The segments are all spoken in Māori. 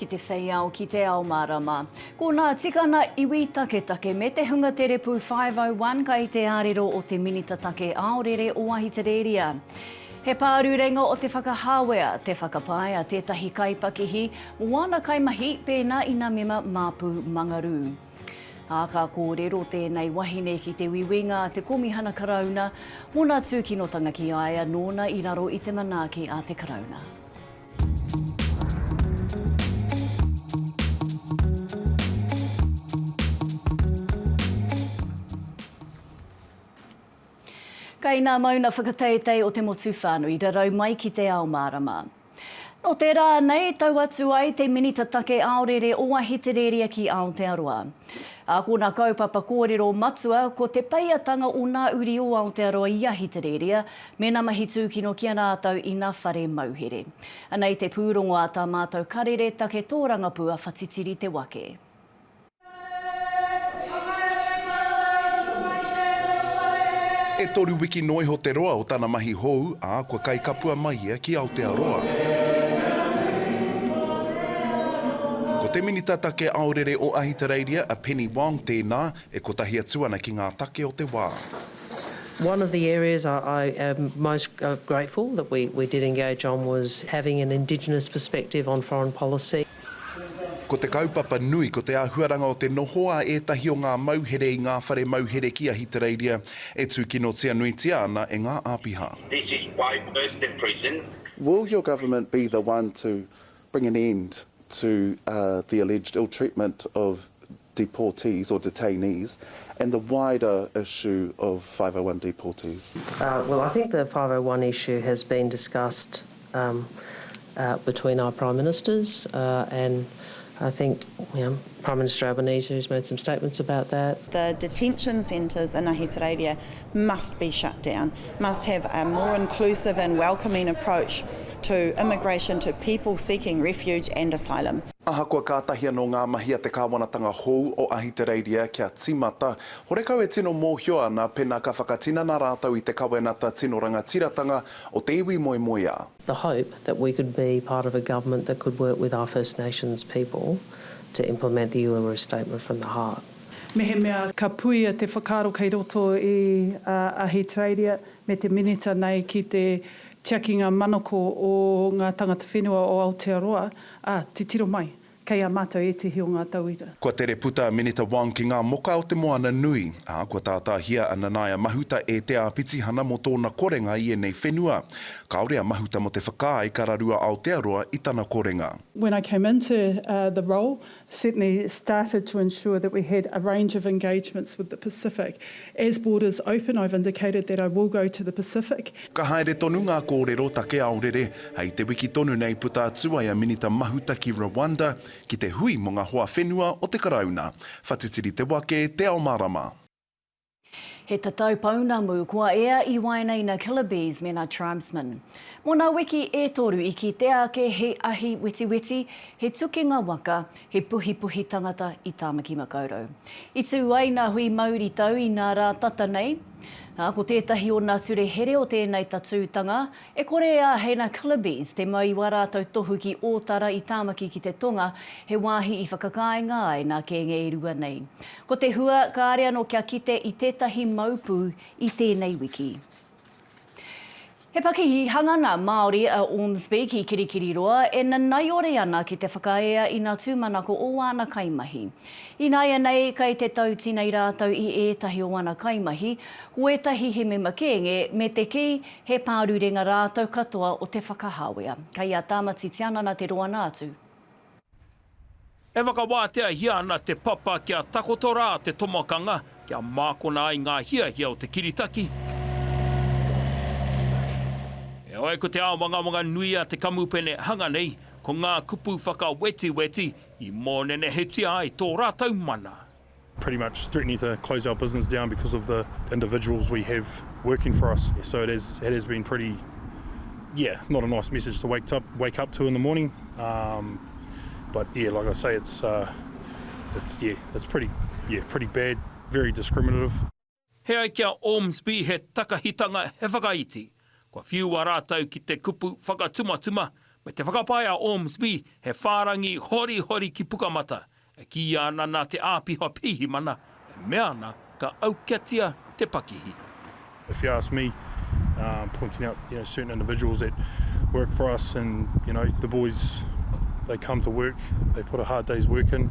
ki te whei ao, ki te ao marama. Ko nā tikana iwi taketake me te hunga terepu 501 kai te arero o te Minita Take Aorere o Ahitereria. He pārurenga o te whakahāwea, te whakapae a tētahi kaipakihi mō āna kaimahi pēnā ina mema māpu mangarū. Ā, ka kōrero tēnei wahine ki te Wiwinga, te Komihana Karauna, mōna tūkinotanga ki a ia nōna i raro i te manaaki a te Karauna. Kai nā mauna whakateitei o te motu whānui rarau mai ki te ao mārama. Nō tērā anei, tau atu ai te Minita Take Aorere o Ahitereria ki Aotearoa. Ākona kaupapa kōrero matua ko te peiatanga o ngā uri o Aotearoa i Ahitereria, mēnā mahi tūkino ki a rātou ina whare mauhere. Anei te pūrongo a Tā Mātou Karere Take Tōrangapū a Whatitiri Te Wake. E toru wiki noa iho te roa o tana mahi hou, ā, kua kaikapua mai ia ki Aotearoa. Ko te Minita Take Aorere o Ahitereiria, a Penny Wong, tēnā, e kotahi atu ana ki ngā take o te wā. One of the areas I am most grateful that we did engage on was having an indigenous perspective on foreign policy. Ko te kaupapa nui, ko te āhuaranga o te noho a ētahi o ngā mauhere i ngā whare mauhere ki Ahitereiria e tūkinotia nuitia ana e ngā āpiha. This is why worse than prison. Will your government be the one to bring an end to the alleged ill treatment of deportees or detainees and the wider issue of five oh one deportees? Well, I think the five oh one issue has been discussed. between our Prime Ministers and I think Prime Minister Albanese who's made some statements about that. The detention centres in Ahitereiria must be shut down, must have a more inclusive and welcoming approach to immigration, to people seeking refuge and asylum. Ahakoa kātahi anō ngā mahi a te kāwanatanga hou o Ahitereiria kia tīmata, horekau e tino mōhio ana pēnā ka whakatinana rātou i te Kawenata Tino Rangatiratanga o te iwi moemoeā. The hope that we could be part of a government that could work with our First Nations people to implement the Uluru Statement from the heart. Mehemea ka puea te whakaaro kei roto i a Ahitereiria me te Minita nei ki te tiakinga manako o ngā tangata whenua o Aotearoa, ā, titiro mai, Kei a mātou ētehi o ngā tauira. Kua tere puta a Minita Wong ki ngā moka o te moana nui, ā, kua tātāhia a Nanaia Mahuta e Te Āpitihana mō tōna korenga i ēnei whenua. Kāore a Mahuta mō te whakaae ka raru a Aotearoa i tana korenga. When I came into the role, certainly started to ensure that we had a range of engagements with the Pacific. As borders open, I've indicated that I will go to the Pacific Ka haere tonu ngā kōrero take aorere, hei te wiki tonu nei puta atu ai a Minita Mahuta ki Rwanda ki te hui mō ngā hoa whenua o te Karauna. Whatitiri te wake, te ao mārama. He tatau pounamu kua ea i waenaina Killabes mena Tribesmen. Mo na wiki e toru i kitea ake he ahi wetiweti, he tukinga waka, he puhipuhi tangata i Tamaki Makaurau. I tu ai na hui mauritau i na ra tata nei, Ā, ko tētahi o nā ture here o tēnei tatūtanga, e kore e āheina Clibby's te mau i wā rātou tohu ki Ōtara i Tāmaki ki te tonga, he wāhi i whakakāinga ai nā kēnge e rua nei. Ko te hua, kāre anō kia kite i tētahi mau pū i tēnei wiki. He pakihi hanganga Māori a Ormsby ki Kirikiriroa e nanaiore ana ki te whakaae a Ina Tūmanako o āna kaimahi. Ināianei, kei te tautinei rātou i ētahi o ana kaimahi, ko ētahi he mema kēnge, me te kī, he pārurenga rātou katoa o Te Whakahāwea. Kei a Tāmati Tianana te roanga atu. E whakawāteahia ana te papa kia takoto rā te tomokanga kia mākona ai ngā hiahia o te kiritaki. Heoi, ko te āwangawanga nui a te kamupene hanga nei, ko ngā kupu whakawetiweti i mōnenehetia ai tō rātou mana. pretty much threatening to close our business down because of the individuals we have working for us so it has it has been pretty yeah not a nice message to wake up wake up to in the morning um but yeah like I say it's uh it's yeah it's pretty yeah pretty bad very discriminative He ai ki a Ormsby he takahitanga, he whakaiti. Kua whiua rātou ki te kupu whakatumatuma, me te whakapae a Ormsby he whārangi horihori ki Pukamata, e kīia ana nā te āpiha pirihimana, e mea ana ka aukatia te pakihi. If you ask me, pointing out you know certain individuals that work for us and you know the boys they come to work, they put a hard day's work in,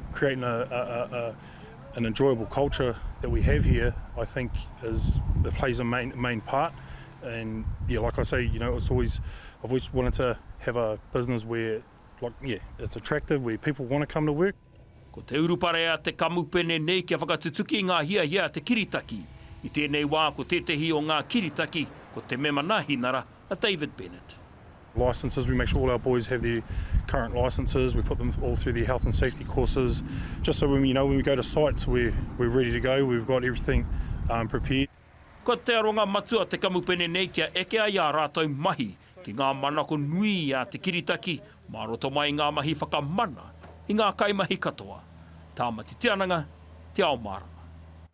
creating a a a a an enjoyable culture that we have here I think is it plays a main main part and yeah like I say you know it's always I've always wanted to have a business where like yeah it's attractive where people want to come to work. Ko te urupare a te kamupene nei kia whakatutuki ngā hiahia a te kiritaki. I tēnei wā ko tētehi o ngā kiritaki ko te mema nāhinara, a David Bennett. Licences, we make sure all our boys have their current licences, we put them all through their health and safety courses, just so when, you know, when we go to sites we're, we're ready to go, we've got everything um, prepared. Ko te aronga matua te kamupene nei kia eke ai ā rātou mahi ki ngā manako nui a te kiritaki mā roto mai i ngā mahi whakamana i ngā kaimahi katoa, Tāmati Te Ananga, Te Ao Mārama.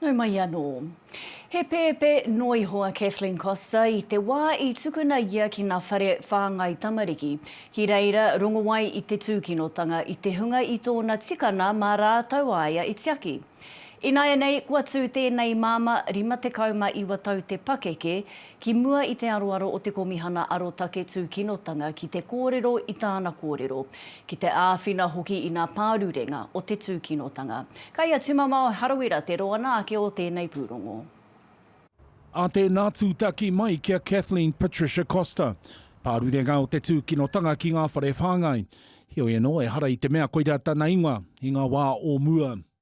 Nau mai anō. He pēpē noa iho a Kathleen Costa i te wā i tukuna ia ki ngā whare whāngai tamariki. Ki reira, rongowai i te tūkinotanga i te hunga i tōna tikana mā rātou a ia i tiaki. Ināianei, kua tū tēnei māmā, 59 tau te pakeke, Ki mua i te aroaro o te Komihana Arotake Tūkinotanga ki te kōrero i tāna kōrero, ki te āwhina hoki i nā pārurenga o te tūkinotanga. Kai a Tumamao Harawira te roana ake o tēnei pūrongo. A tēnā tūtaki mai ki a Kathleen Patricia Costa, pārurenga o te tūkinotanga ki ngā whare whāngai. Heoi anō, ehara i te mea koirā tana ingoa i ngā wā o mua.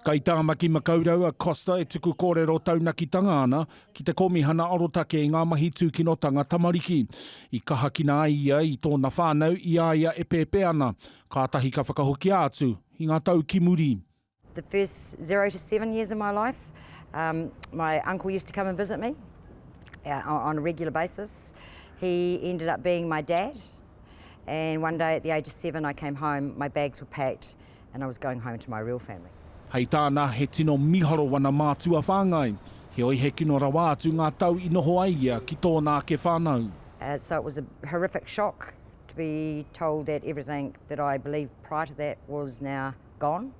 Kei Tāmaki Makaurau a Costa e tuku kōrero taunakitanga ana ki te Kōmihana Arotake i ngā Mahi Tūkinotanga Tamariki. I kahakina ai ia i tōna whānau i a ia e pēpē ana, kātahi ka whakahokia atu i ngā tau ki muri. The first zero to seven years of my life um my uncle used to come and visit me uh on a regular basis. He ended up being my dad and one day at the age of seven I came home, my bags were packed. and I was going home to my real family. Hei tāna, he tino miharo wana mātua whāngai, heoi he kino rawa atu ngā tau i noho ai ia ki tōna ake whānau. So it was a horrific shock to be told that everything that I believed prior to that was now gone.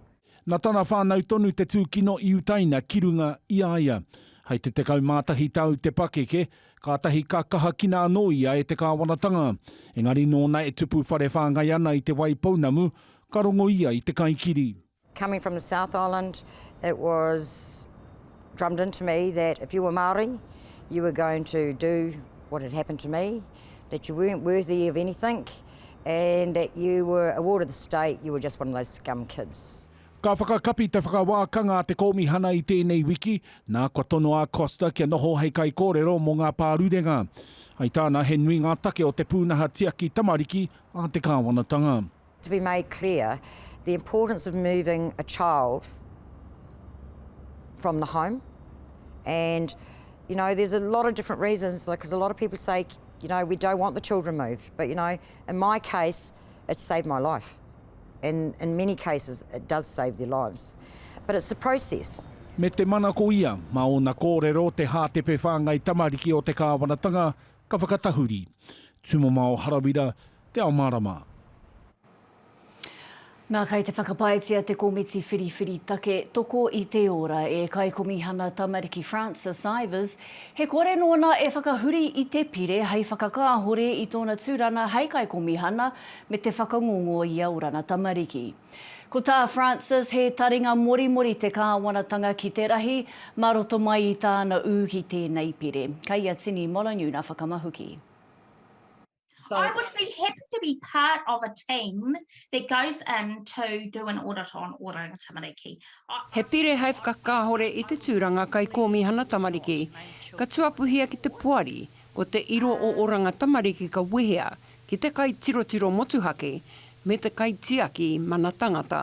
Na tana whānau tonu te tūkino i utaina ki runga i a ia. Hei te 11 tau te pakeke, Kātahi ka kahakina anō ia e te kāwanatanga, engari nōna e tupu whare whāngai ana i Te Waipounamu, ka rongo ia i te kaikiri. Coming from the South Island, it was drummed into me that if you were Māori, you were going to do what had happened to me, that you weren't worthy of anything and that you were a ward of the state, you were just one of those scum kids. Ka whakakapi te whakawākanga a te Kōmihana i tēnei wiki, nā kua tono a Costa kia noho hei kaikōrero mō ngā pārurenga. Hai tāna, he nui ngā take o te pūnaha tiaki tamariki a te kāwanatanga. to be made clear the importance of moving a child from the home and you know there's a lot of different reasons like because a lot of people say you know we don't want the children moved but you know in my case It saved my life and in many cases it does save their lives but it's the process. Me te mana ko ia, mā ōna kōrero te hātepe whāngai tamariki o te kāwanatanga ka whakatahuri. Tumamao Harawira, Te Ao Mārama. Nā, kei te whakapaetia te komiti whiriwhiri take Toko i te Ora e Kaikomihana Tamariki Francis Ivers He kore nōna e whakahuri i te pire hei whakakāhore i tōna tūrana hei kaikomihana me te whakangongo i a orana tamariki. Ko tā Frances he taringa morimori te kāwanatanga ki te rahi mā roto mai i tāna ū ki tēnei pire, kei a Tini Molonyu nā Whakamahuki. So I would be happy to be part of a team that goes in to do an audit on Oranga Tamariki. He pire hei whakakāhore i te tūranga Kaikōmihana Tamariki, ka tuapuhia ki te poari, ko te iro o Oranga Tamariki ka wehea ki te kaitirotiro motuhake me te kaitiaki mana tangata.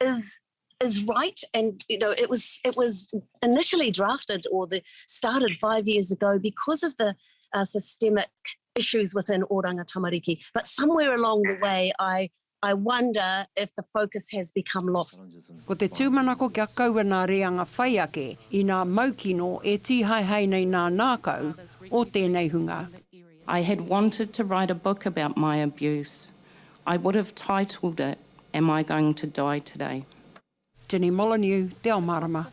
is is right and you know it was it was initially drafted or the started five years ago because of the uh, systemic issues within Oranga Tamariki but somewhere along the way I I wonder if the focus has become lost. Ko te tūmanako kia kaua nā reanga whai ake, inā maukino e tīhaehae nei nā nākau o tēnei hunga. I had wanted to write a book about my abuse, I would have titled it Am I Going to Die Today? Jenny Molyneux, Te Ao Mārama.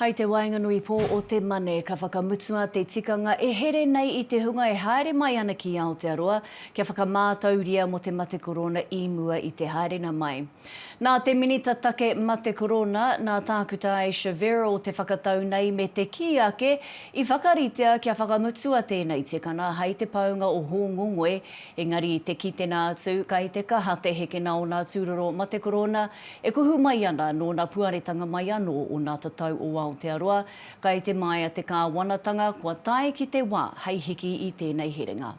Hai te waenganui pō o te Mane, ka whakamutua te tikanga e here nei i te hunga e haere mai ana ki Aotearoa kia whakamātauria mō te matekorōna i mua i te haerenga mai. Nā te Minita Take Mate Korona, nā Tākuta Aisha Verrall te whakatau nei me te kī ake i whakaritea kia whakamutua tēnei tikanga hai te paunga o Hōngongoi, engari i te kitenga atu kai te kaha te heke na ōna tūroro ma te Korona e kuhu mai ana nōna puaretanga mai anō o nā tatau o Aotearoa kai te maea te Kāwanatanga kua tae ki te wā hai hiki i tēnei herenga.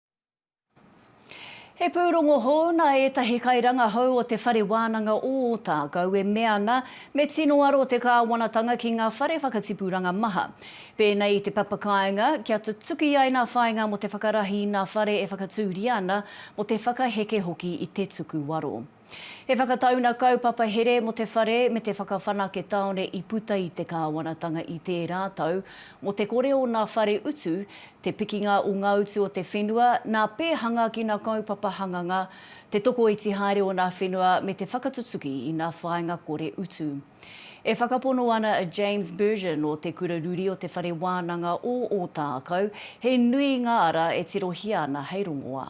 He pūrongo hou nā ētahi kairangahau o Te Whare Wānanga o Ōtākou e mea ana me tino aro te kāwanatanga ki ngā whare whakatipuranga maha. Pēnei i te papakāinga, kia tutuki ai nā whāinga mō te whakarahi nā whare e whakatūria ana, mō te whakaheke hoki i te tukuwaro. He whakataunga kaupapa here mō te whare me te whakawhanake tāone i puta i te kāwanatanga i tērā tau, mō te kore o nā whare utu, te pikinga o ngā utu o te whenua, nā pēhanga ki nā kaupapa hanganga, te tokoiti haere o nā whenua me te whakatutuki i nā whāinga kore utu. E whakapono ana a James Berger nō Te Kura Ruri o Te Whare Wānanga o Ōtākou, he nui ngā ara e tirohia ana hei rongoā.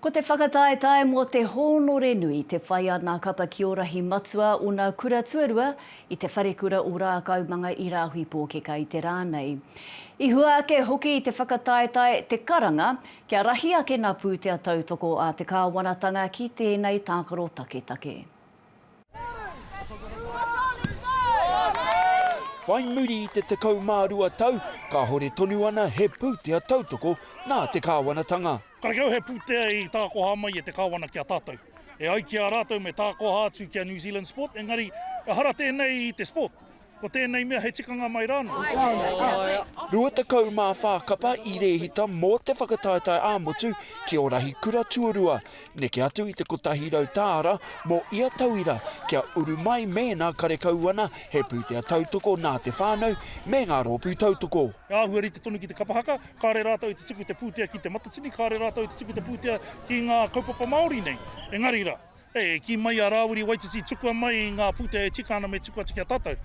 Ko te whakataetae mō te hōnore nui te whai a Nā Kapa Kiorahi Matua ōna kura tuarua i Te Wharekura o Rākaumanga i Rāhui Pōkeka i te rā nei. I hua ake hoki i te whakataetae te karanga kia rahi ake nā pūtea tautoko a te kāwanatanga ki tēnei tākaro taketake. Whai muri i te 12 tau, kāhore tonu ana he pūtea tautoko nā te kāwanatanga. Karakia au he pūtea i tākoha mai e te kāwana ki a tātou. E ai ki a rātou me tākoha atu ki a New Zealand Sport, engari ehara tēnei i te Sport. Ko tēnei mea he tikanga mai rānō. 24 kapa i rēhita mō te whakataetae ā-motu ki ō rahi kura tuarua, neke atu i te 100 tāra mō ia tauira kia uru mai mēnā karekau ana he pūtea tautoko nā te whānau me ngā rōpū tautoko. E āhua rite tonu ki te kapa haka, kāre rātou i te tuku te pūtea ki Te Matatini, kāre rātou i te tuku te pūtea ki ngā kaupapa Māori nei. Engari rā, E kī mai a Rāwiri Waititi tukua mai i ngā pūtea e tika ana me tuku atu ki a tātou.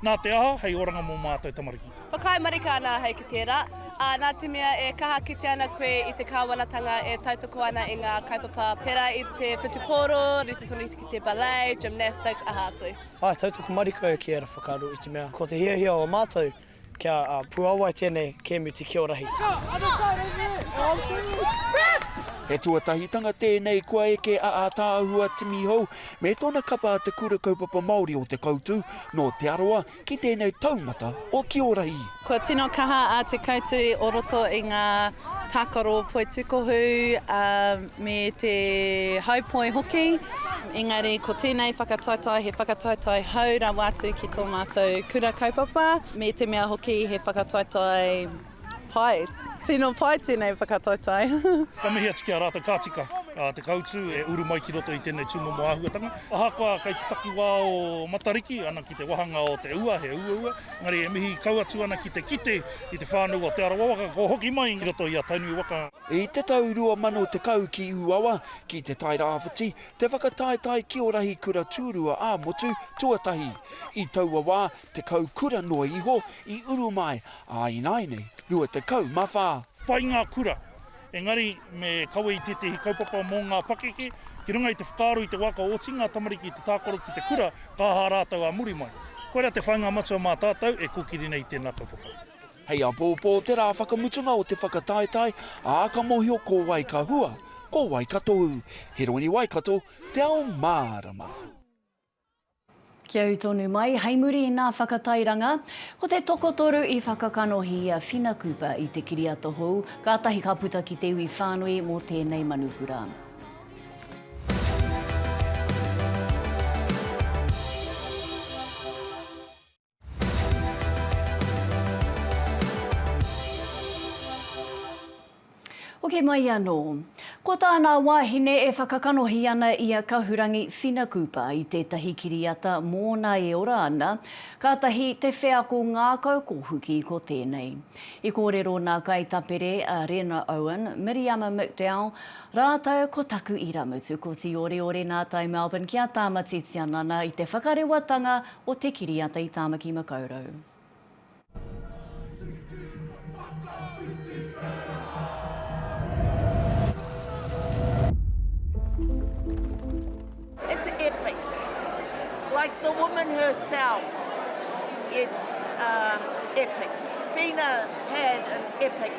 Nā te aha, hei oranga mō mātou tamariki. Whakaae marika ana ahau ki tērā, ā, nā te mea e kaha kite ana koe i te kāwanatanga e tautoko ana i ngā kaupapa pērā i te whutupōro, rite tonu ki te ballet, gymnastics, aha atu. Āe, tautoko marika au ki ērā whakaaro i te mea ko te hiahia o a mātou Kia puawai tēnei kēmu te kiorahi. He tuatahitanga tēnei kua eke a Ataahua Timi Hou me tōna kapa a Te Kura Kaupapa Māori o Te Koutu nō Te Arawa ki tēnei taumata o Kiorahi. Kua tino kaha a Te Koutu o roto i ngā tākaro poitūkohu, me te haupoi hoki, engari ko tēnei whakataetae he whakataetae hou rawa atu ki tō mātou kura kaupapa, me te mea hoki he whakataetae pai, tino pai tēnei whakataetae. Ka mihi atu ki a rātou ka tika te kautū e uru mai ki roto i tēnei tūmomo āhuatanga. Ahakoa kei te takiwā o Matariki, ana ki te wāhanga o te ua, he uaua, engari e mihi kau atu ana ki te kite i te whānau o Te Arawa waka kua hoki mai ki roto i a Tainui waka. I te tau 2010 ki Ūawa, ki Te Tai Rāwhiti, te whakataetae ki o rahi kura tūrua ā-motu tuatahi. I taua wā, tekau kura noa iho i uru mai, ā ināinei, 24. Pai ngā kura, engari me kawe i tētehi kaupapa mō ngā pakeke, ki runga i te whakaaro i te wā ka oti ngā tamariki i te tākaro ki te kura, ka aha rātou ā muri mai. Koirā te whāinga matua mā tātou e kōkiri nei i tēnā kaupapa. Hei apōpō te rā whakamutunga o te whakataetae, ā, ka mōhio ko wai ka hua, ko wai ka tohu. Heroini Waikato, te ao mārama. Kia ū tonu mai, hei muri i nā whakatairanga, ko te tokotoru i whakakanohi i a Whina Cooper i te kiriata hou, kātahi ka puta ki te iwi whānui mō tēnei manukura. Hoki mai anō. Ko tā nā wāhine e whakakanohi ana i a Kahurangi Whinakupa i tētahi kiriata mōna e ora ana, kātahi te wheako ngākau kōhuki ko tēnei. I kōrero nā Kaitapere a Rena Owen, Miriama McDowell rātou ko Taku Irāmutu, ko Tīoreore Nātai Melbourne ki a Tāmati Tianana i te whakarewatanga o te kiriata i Tāmaki Makaurau. It's epic. Like the woman herself, it's epic. Whina had an epic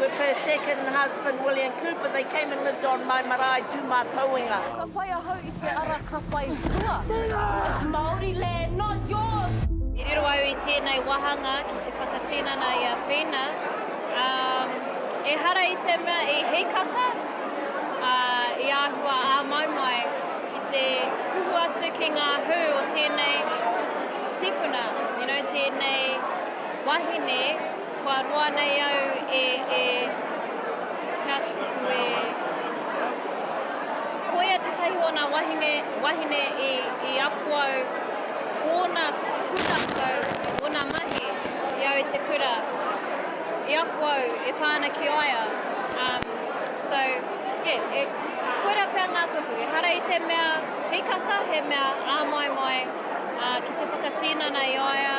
With her second husband William Cooper they came and lived on my marae Tūmātauenga. Ka whai ahau i te ara ka whai hua. It's Māori land not yours! I riro au i tēnei wāhanga ki te whakatinana i a Whina, ā, ehara i te mea i hīkaka, ā, i āhua āmau mai ki te kuhu atu ki ngā hū o tēnei tīpuna, you know, tēnei wahine. Kua roa nei au e, e, he atu kupu e, ko ia tetahi o na wahine, wahine i, i ako au ko ona pūrākau, ona mahi i au i te kura, i ako au e pa ana ki a ia, um, so, yeah, e, koira pea nga kupu, ehara i te mea hikaka he mea āmaimai, uh, ki te whakatinana i a ia.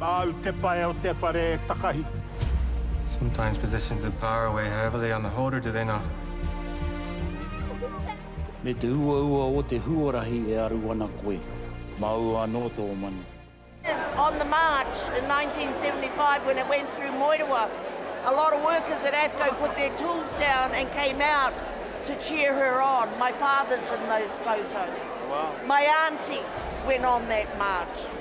Māu te pae o te whare e takahi. Sometimes positions of power weigh heavily on the holder, do they not? Me te uaua o te huarahi e aru ana koe. Māu anō tō manu. Workers on the march in 1975 when it went through Moerewa. A lot of workers at AFCO put their tools down and came out to cheer her on. My father's in those photos. Wow. My auntie went on that march.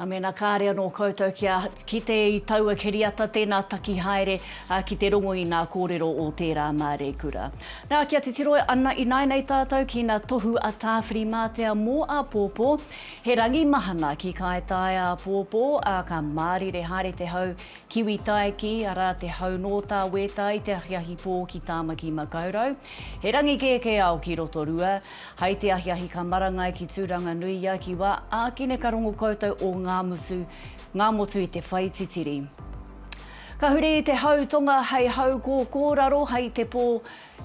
Nā, mēnā kāre anō koutou kia kite i taua kiriata, tēnā taki haere ki te rongo i nā kōrero o tērā māreikura. Nā, kia titiro ana ināinei tātou ki nā tohu a Tāwhirimātea mō āpōpō, he rangi mahana ki Kāetaia āpōpō, ā, ka mārire haere te hau kiwi taeki, arā, te hau nō Tāwētā i te ahiahi pō ki Tāmaki-makau-rau. He rangi kēkēao ki Rotorua, Hai te ahiahi ka marangai ki Tūranganuia ki wa ākine ka rongo koutou o ngā mutu, ngā motu i te whai titiri. Ka huri i te hau tonga hei hau kōkōraro hai te pō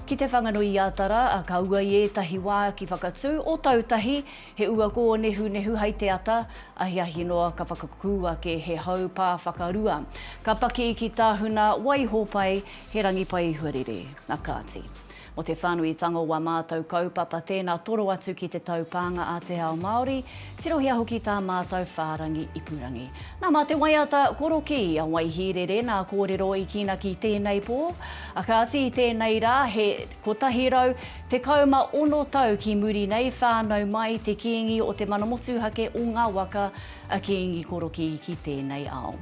ki Te Whanganui-a-Tara, ka ua i ētahi wā ki Whakatū o Tautahi, he ua kōnehunehu hai te ata, ahiahi noa ka whakakū ake he hau pā whakarua. Ka paki ki Tahuna, Waihopai, he rangi pai huarere. Na kāti. Mō te whānuitanga o wā mātou kaupapa tēnā toro atu ki te taupānga a te ao Māori, tirohia hoki tā mātou whārangi ipurangi. Nā, mā te waiata korokī a Waihīrere nā kōrero i kīnaki tēnei pō. A kāti i tēnei rā, he 116 tau ki muri nei, whānau mai te Kīngi o Te Mana Motuhake o ngā Waka, a Kīngi Korokī ki tēnei ao.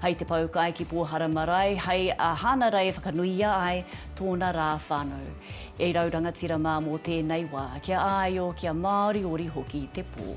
Hai te poukai ki Pōhara Marae, hai a Hānarei whakanuia ai, tōna rā whānau. E rau rangatira mā mō tēnei wā, kia āio, kia māoriori hoki te pō.